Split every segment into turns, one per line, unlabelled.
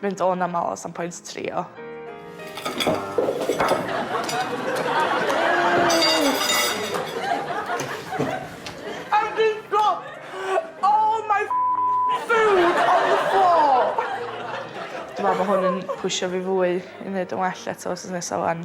Dwi'n mynd o'n amal os am pwynt trio. Dwi me'wl bo' hwn yn pwsho fi fwy i neud yn well eto wsos nesa 'wan.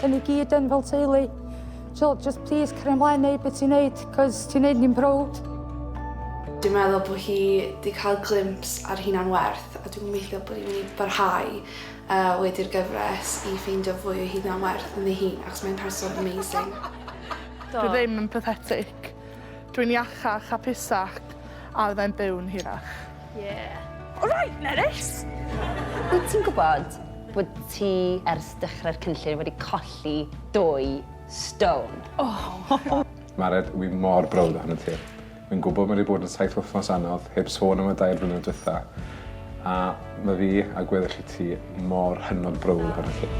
Cyn i gyd yn fel teulu. So, just please, cario ymlaen neud beth ti'n neud, cos ti'n neud ni'n browd. Dwi'n
meddwl bod hi wedi cael glimps ar hunan werth a dwi'n gobeithio bod hi'n mynd i barhau uh, wedi'r gyfres i ffeindio fwy o hunan werth yn ei hun achos mae'n person amazing. Dwi
ddim yn pathetic. Dwi'n iachach a pusach a fyddai'n byw'n hirach.
Yeah. Alright, Nerys!
Wyt
ti'n gwybod bod ti ers dechrau'r cynllun wedi colli dwy stone? Oh!
Mared, wi mor browd ohono ti. Fi'n gwybod mae wedi bod yn saith wythnos anodd, heb sôn am y dair flynedd dwytha, a mae fi a gweddill i ti mor hynod browd ohono ti.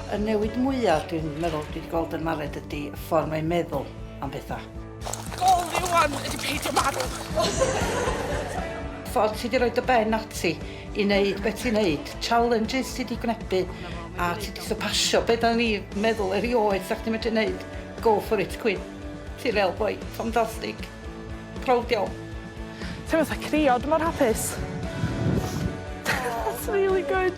Y newid mwyaf dwi'n meddwl dwi wedi gweld yn Mared ydy y ffordd mae'n meddwl. am pethau. Gol fi
wan ydy peidio marw.
Ffordd ti di roi dy ben ati i wneud beth ti'n wneud, challenges ti di gwnebu a ti di sypasio beth o'n i meddwl erioed sa'ch ti'n medru wneud. Go for it, Queen. Ti real boi, ffantastig. Proud iawn. Ti'n fatha
crio, dwi mor hapus. That's really good.